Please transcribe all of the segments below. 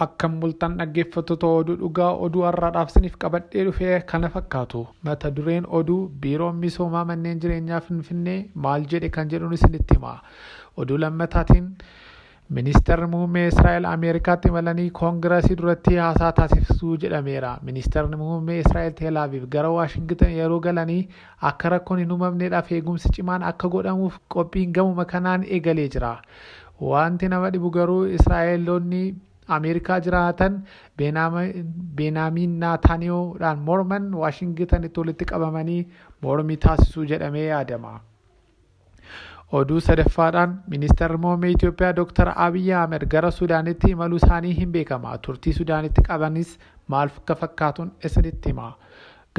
Akkam bultan dhaggeeffattoota oduu dhugaa oduu har'aadhaaf siniif qabadhee dhufe kana fakkaatu mata dureen oduu biiroon misoomaa manneen jireenyaa finfinnee maal jedhe kan jedhuun isinitti hima oduu lammataatiin Ministeerri muummee Israa'el Ameerikaatti imalanii koongirasii duratti haasaa taasisuu jedhameera. Ministeerri muummee Israa'el Teelaaviif gara Waashingtan yeroo galanii Akka rakkoon hin umamneedhaaf eegumsi cimaan akka godhamuuf qophiin gamuma kanaan eegalee jira. Waanti nama dhibu garuu Israa'eloonni Ameerikaa jiraatan Beenaamiin Naataaniyoo dhaan morman Waashingitanitti walitti qabamanii mormii taasisuu jedhamee yaadama. Oduu sadaffaadhaan Ministeerri Muummee Itoophiyaa Dr. Abiyyi Ahmed gara Sudaanitti imaluu isaanii hin beekama. Turtii Sudaanitti qabanis maal akka fakkaatun isinitti hima.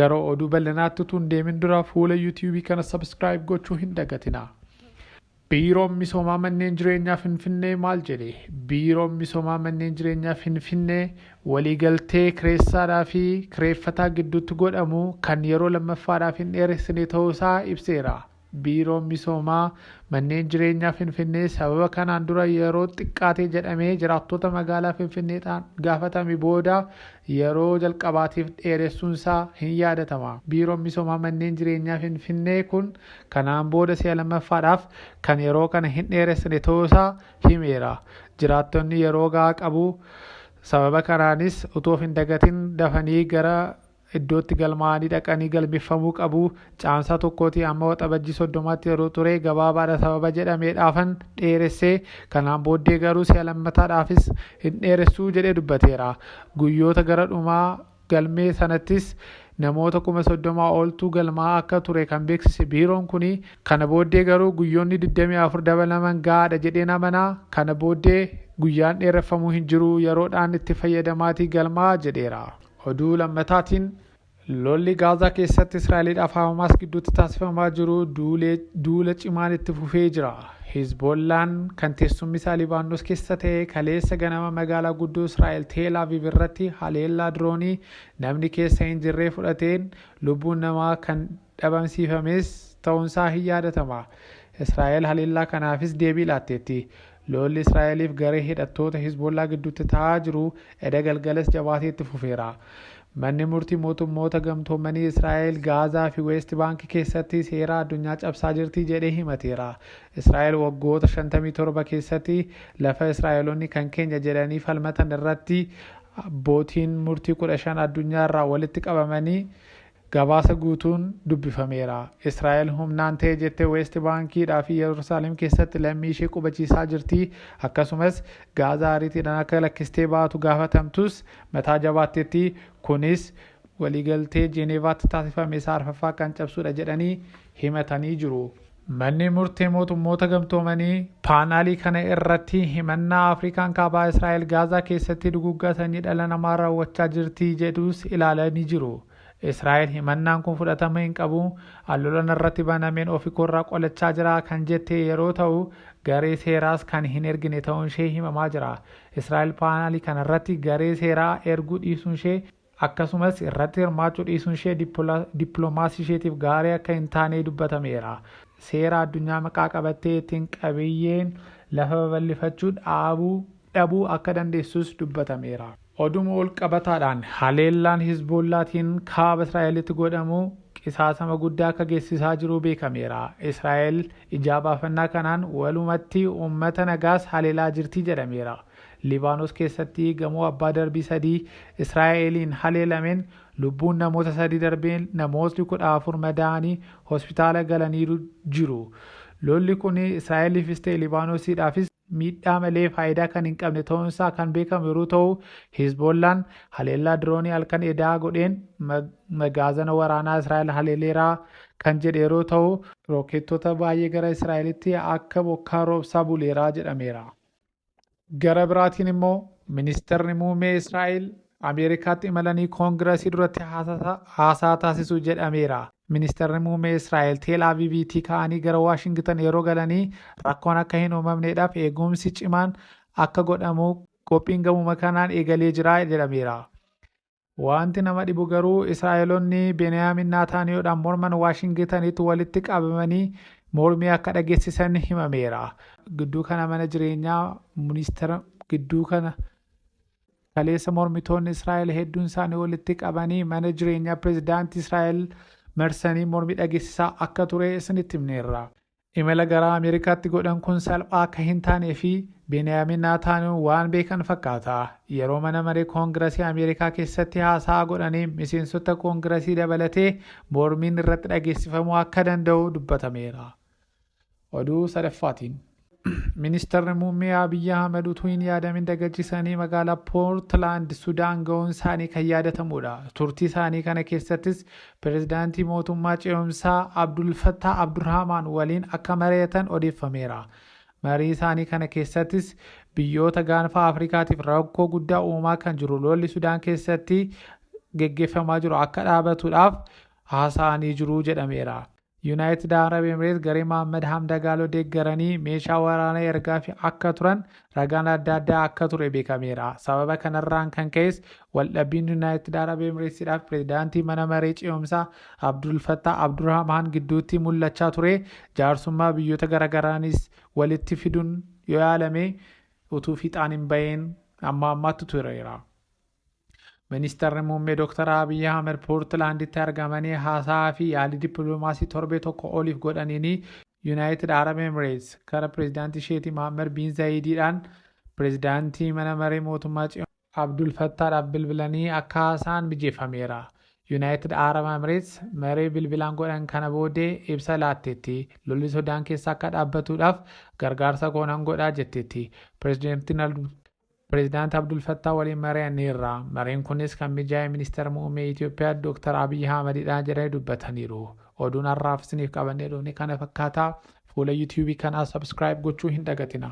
Gara oduu bal'inaatti utuu hin deemin dura fuula YouTube kana subscribe gochuu hin dagatina. Biiroon misoomaa manneen jireenyaa Finfinnee maal jedhe? Biiroon misoomaa manneen jireenyaa Finfinnee waliigaltee kireessaadhaa fi kireeffataa gidduutti godhamu kan yeroo lammaffaadhaaf hin dheeressine ta'uusaa ibseera. Biiroon Misoomaa Manneen Jireenyaa Finfinnee sababa kanaan dura yeroo xiqqaate jedhamee jiraattota magaalaa Finfinneedhaan gaafatame booda yeroo jalqabaatiif dheeressuunsaa hin yaadatama. Biiroon Misoomaa Manneen Jireenyaa Finfinnee kun kanaan booda si'a lammaffaadhaaf kan yeroo kana hin dheeressine ta'uusaa himeera. Jiraattonni yeroo gahaa qabu. Sababa kanaanis utuu of hin dagatin dafanii gara iddoo itti galmaa'anii dhaqanii galmeffamuu qabu Caamsaa tokkootii amma Waxabajjii soddomaatti yeroo ture gabaabaadha sababa jedhameedhaafan dheeresse kanaan booddee garuu si'a lammataadhaafis hin dheeressuu jedhee dubbateera. Guyyoota gara dhumaa galmee sanattis namoota kuma soddomaa oltu galmaa'aa akka ture kan beeksise biiroon kuni kana booddee garuu guyyoonni 24 dabalaman gahaadha jedheen amana kana booddee guyyaan dheereffamuu hin jiru yeroodhaan itti fayyadamaatii galmaa'aa jedheera. Oduu lammataatiin lolli Gaazaa keessatti Israa'eliidhaaf Haamaas gidduutti taasifamaa jiru duula cimaan itti fufee jira. Hizboollaan kan teessummisaa Libaannos keessa ta'e kaleessa ganama magaalaa guddoo Israa'el Teel Aviv irratti haleellaa diroonii namni keessa hin jirree fudhateen lubbuun namaa kan dhabamsiifames ta'uunsaa hin yaadatama. Israa'el haleellaa kanaafis deebii laatteetti. Loolli Israa'eliif garee hidhattoota Hizboollaa gidduutti ta'aa jiru eda galgalas jabaatee itti fufeera. Manni murtii mootummoota gamtoomanii Israa'el Gaazaa fi Weest Baank keessatti seeraa addunyaa cabsaa jirti jedhee himateera. Israa'el waggoota 57 keessatti lafa Israa'elonni kan keenya jedhanii falmatan irratti abbootiin murtii 15 addunyaa irraa walitti qabamanii Gabaasa guutuun dubbifameera. Israa'el humnaan ta'e jettee Weest Baankiidhaa fi Yerusaalem keessatti lammii ishee qubachiisaa jirti. Akkasumas Gaazaa ariitiidhaan akka lakkistee baatu gaafatamtus mataa jabaatteetti. Kunis waliigaltee Jeeneevaatti taasifame isaa arfaffaa kan cabsuudha jedhanii himatanii jiru. Manni murtee mootummoota gamtoomanii paanaalii kana irratti himannaa Afrikaan kaabaa Israa'el Gaazaa keessatti duguggaa sanyii dhala namaa raawwachaa jirti jedhus ilaalanii jiru. Israa'el himannaan kun fudhatama hin qabu, an lola narratti banameen ofikoorraa qolachaa jira kan jette yeroo ta'u, garee seeraas kan hin ergine ta'uunshee himamaa jira. Israa'el paanaalii kanarratti garee seeraa erguu dhiisuunshee Akkasumas irratti hirmaachuu dhiisuunshee dippilomaasiisheetiif gaarii akka hin taanee dubbatameera. Seera addunyaa maqaa qabattee ittiin qabiyyeen lafa babal'ifachuu dhaabuu dhabuu akka dandeessus dubbatameera. Oduma walqabataadhaan haleellaan Hizboollaatiin kaaba Israa'elitti godhamu qisaasama guddaa akka geessisaa jiruu beekameera. Israa'el ijaa baafannaa kanaan walumatti uummata nagaas haleelaa jirti jedhameera. Libaanos keessatti gamoo abbaa darbii sadii Israa'eliin haleelameen lubbuun namoota sadii darbeen namootni 14 madaa'anii hospitaala galaniiru jiru. Lolli kun Israa'eliifis ta'e Libaanosiidhaafis miidhaa malee faayidaa kan hin qabne ta'uunsaa kan beekamu yeroo ta'u, Hizboollaan haleellaa diroonii halkan edaa godheen magaazana waraanaa Israa'el haleeleera kan jedhe yeroo ta'u, rookeettota baay'ee gara Israa'elitti akka bokkaa roobsaa buleera jedhameera. Gara biraatiin immoo ministeerri muummee Israa'el Ameerikaatti imalanii koongirasii duratti haasaa taasisu jedhameera. Ministeerri muummee Israa'el Teel Aviiviitii ka'anii gara Waashingitan yeroo galanii rakkoon akka hin uumamneedhaaf eegumsi cimaan akka godhamu qophiin gamuma kanaan eegalee jira jedhameera. Wanti nama dhibu garuu Israa'elonni Beniyaamin Naataaniyoodhaan morman Waashingitanitti walitti qabamanii mormii akka dhageessisan himameera. Gidduu kana mana jireenyaa ministeera gidduu kana kaleessa mormitoonni Israa'el hedduun isaanii walitti qabanii mana jireenyaa pirezidaantii Israa'el marsanii mormii dhageessisaa akka ture isinitti himneerra. Imala gara Ameerikaatti godhan kun salphaa akka hin taanee fi Beeniyaamin Naataaniyoo waan beekan fakkaata. Yeroo mana maree Koongirasii Ameerikaa keessatti haasa'aa godhaniin miseensota Koongirasii dabalatee mormiin irratti dhageessifamuu akka danda'u dubbatameera. Oduu sadaffaatiin. Ministarri Muummee Abiy Ahmed utuu hin yaadamin dagachisanii magaalaa Poortilaand Sudaan ga'uun isaanii kan yaadatamuudha. Turtii isaanii kana keessattis Pirezidaantii Mootummaa Ce'umsaa Abdul Fattaah Abdurhaamaan waliin akka mari'atan odeeffameera. Marii isaanii kana keessattis biyyoota gaanfa Afrikaatiif rakkoo guddaa uumaa kan jiru lolli Sudaan keessatti geggeeffamaa jiru akka dhaabatuudhaaf haasa'anii jiru jedhameera. Yunaayitid Arab Emireet garee Mohaammed Hamdagaaloo deeggaranii meeshaa waraanaa ergaafi akka turan ragaan adda addaa akka ture beekameera. Sababa kanarraan kan ka'es waldhabbiin Yunaayitid Arab Emireetsidhaaf pirezidaantii mana maree ce'umsaa Abdul Fattah Abdurahmaan gidduutti mul'achaa ture jaarsummaa biyyoota garagaraanis walitti fiduun yoo yaalame utuu fiixaan hin ba'iin amma ammaatti tureera. Ministeerri muummee Dr. Abiy Ahmed Poortilaanditti argamanii haasaa fi yaalii dippiloomaasii torbee tokko oliif godhaniin Yuunaayitid Arab Emireets gara pireezidaantii isheetii Mohaammed Biin Zaayidiidhaan pireezidaantii mana maree mootummaa Tsiyoon Abdul Fattaadhaaf bilbilanii akka haasa'an mijeeffameera. Yuunaayitid Arab Emireets maree bilbilaan godhan kana booddee ibsa laatteetti. Lolli Sudaan keessa akka dhaabbatuudhaaf gargaarsa koo nan godha jetteetti. Pireezidaantiin Pireezidaanti Abdul Fattaa waliin mari'anneerra. Mariin kunis kan mijaa'e Ministeera Muummee Itoophiyaa Dooktar Abiy Ahmadidha jedhanii dubbataniiru. Oduun har'aaf isiniif qabannee dhufne kana fakkaata. Fuula YouTube kanaa subscribe gochuu hin dagatina.